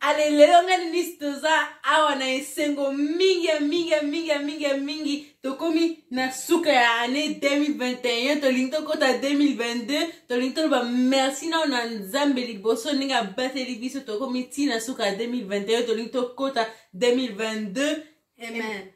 ale lelo nga nisi toza awa na esengo mingi ya mingi ya mingi ya mingi ya mingi tokomi na suka ya année 2021 tolingi tokɔta 2022 tolingi toloba merci nao na nzambe liboso ndenge abateli biso tokomi ntina suka ya 2021 tolingi tokɔta 2022 amen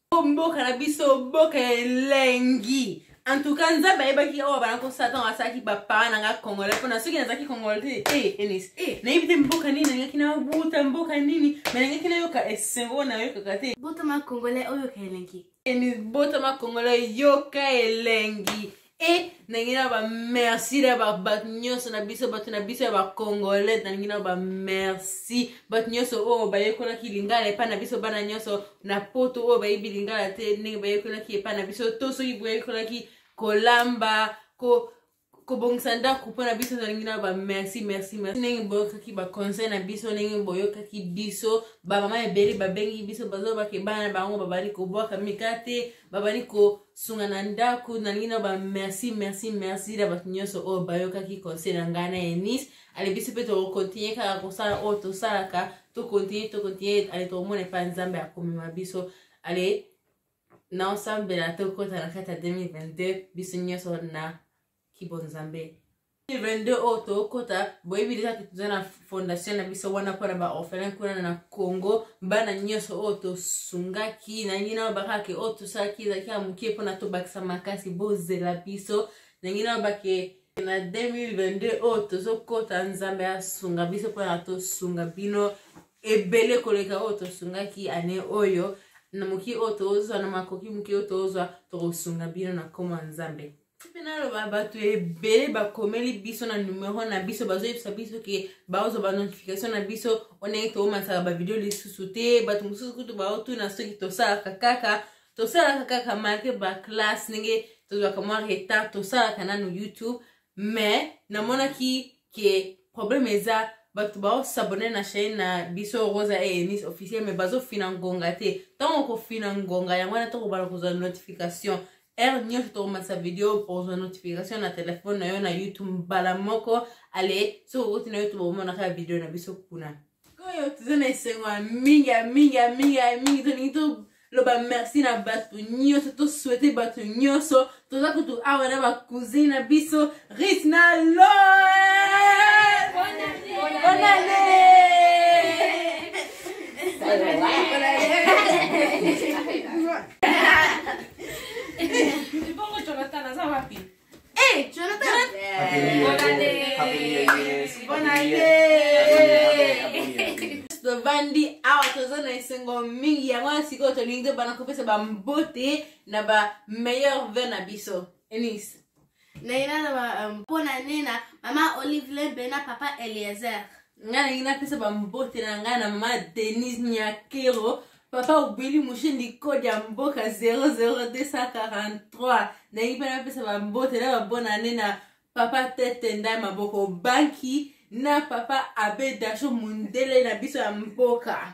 po mboka na biso mboka ya elengi en tout cas nzambe ayebaki oyo bana ko satan asalaki bapara na nga congolais mpona soki nazalaki congolais te e eh, enis e eh, nayebi te mboka nini nalingaki na buta mboka nini me nalingaki nayoka esengo oyo nayokaka te botama congolais oyoka elengi enis botama congolais yoka elengi e nalingi na bamerci na bato nyonso na biso bato na biso ya bacongolais nalingi na bamerci bato nyonso oyo bayekolaki lingala epai na biso bana nyonso na poto oyo bayebi lingala te ndenge bayekolaki epai na biso to soki boyekolaki kolamba ko kobongisa ndako mpo na biso tolingi na bamerci merci merci ndenge boyokaki baconseil na biso ndenge boyokaki biso bamama ebele babengi biso bazobake bana bango babali kobwaka mikate babandi kosunga na ndako nalingi na ba merci merci merci na bato nyonso oyo bayokaki conseil na ngai na enis ale biso mpe tokokontinue kaka kosala oyo tosalaka tokontinue tokontinue ale tokomona epa nzambe akomema biso ale na osambela tokota na kati ya 2022 biso nyonso na kibonzambe 22 oyo tokota boyebi deja toza na fondation na biso wana mpona baorphelin kuna na congo bana nyonso oyo tosungaki nangi nao bakake oyo tosalaki ezalaki ya moke mpona tobakisa makasi bozela biso nangi nao bake na 2022 oyo tozokota nzambe asunga biso mpona tosunga bino ebele koleka oyo tosungaki ane oyo na moki oyo tozwa na makoki moki oyo tozwa tokosunga bino na nkoma nzambe tipe naloba bato ebele bakomeli biso na numero na biso bazoyebisa biso ke baozwa banotification na biso ondenge toomanisaka bavideo lisusu te bato mosusu kutu baotuna soki tosalaka kaka tosalaka kaka malgre baklasse ndenge tozwaka mwa retard tosalaka nano youtube mais namonaki ke problème eza bato baosabone na chaine na biso rosa enis officiel mais bazofina ngonga te ntango okofina ngonga yango wana tokobana kozwa notification heure nyonso tokomatisa video okozwa notification na telefone na yo na youtube mbala moko ale soki okoti na youtube omonaka ya video na biso kuna oyo toza na esengo ya mingi ya mingi ya mingi ya mingi tolingi toloba merci na bato nyonso toswete bato nyonso toza kutu awa na bacousine na biso rit na lo bonane Bongo Jonathan aza wapi? Eh, Jonathan. tovandi awa toza na esengo mingi yango wana sikoyo tolingi tobana kopesa bambote na ba meilleur ve na biso enis naye na euh, mpo na nena mama olive lembe na papa eliezer ngai nalingi napesa bambote na ngai na mama denise nyakero papa obeli moshindi kode ya mboka 00243 nalingi mpe napesa bambote na babonane na papa tete ndai maboko banki na papa abe dasho mondele na biso ya mboka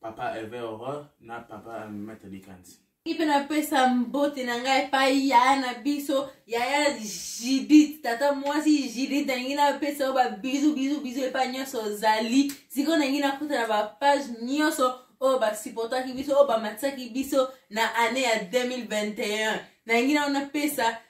papa ever horreur na papa maitre likanzi ipe napesa mbote na ngai epai yaya na biso yaya jidit tata mwasi jidit nalingi napesa yo babizu bizu bizu epai nyonso ozali sikoyo nalingi nakuta na bapage nyonso oyo basupportaki biso oyo bamatisaki biso na année ya 2021 nalingi nao napesa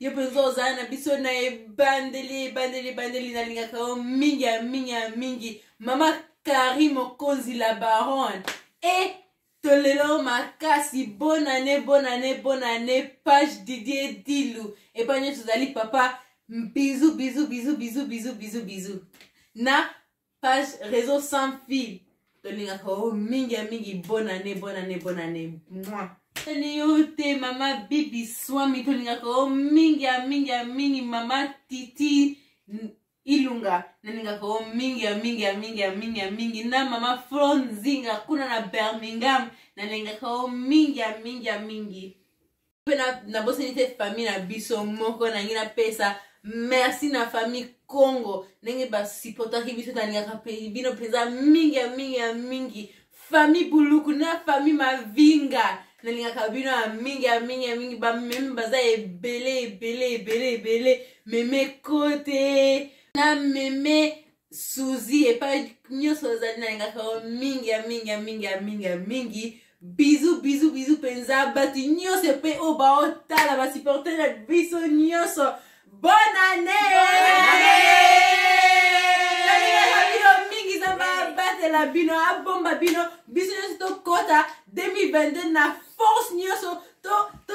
yo mpenza ozala na biso na ebandeli ebandeli ebandeli nalingaka yo mingi ya mingi ya mingi mama kari mokonzi la baronne e tolelo makasi bonane bonane bonane page didie dilu epai nyonso ozali papa bizu bizu bizu bizu bizu bizu bizu na page réseau sans fil tolingaka o mingi ya mingi bonne année bonne année bonne année moi tani yo te mama bibi swami tolingaka o mingi ya mingi ya mingi mama titi ilunga nalingaka o mingi ya mingi ya mingi ya mingi ya mingi na mama flo nzinga kuna na birmingham nalingaka o mingi ya mingi ya mingi mpe nabosani te famille na biso moko nangi napesa merci na famille congo ndenge basupportaki biso nalingaka mpe bino mpenza mingi ya mingi ya mingi famille buluku na famille mavinga nalingaka bino ya mingi ya mingi ya mingi bamemi baza ebele ebele ebele ebele meme kote na meme suzi epai nyonso ozali nalingaka yo mingi ya mingi ya mingi ya mingi ya mingi bizu bizu bizu mpenza bato nyonso epai oyo baotala basupporter na biso nyonso bonne année mingi zamba abatela bino abomba bino biso nyonso tokɔta 2022 na force nyonso to, to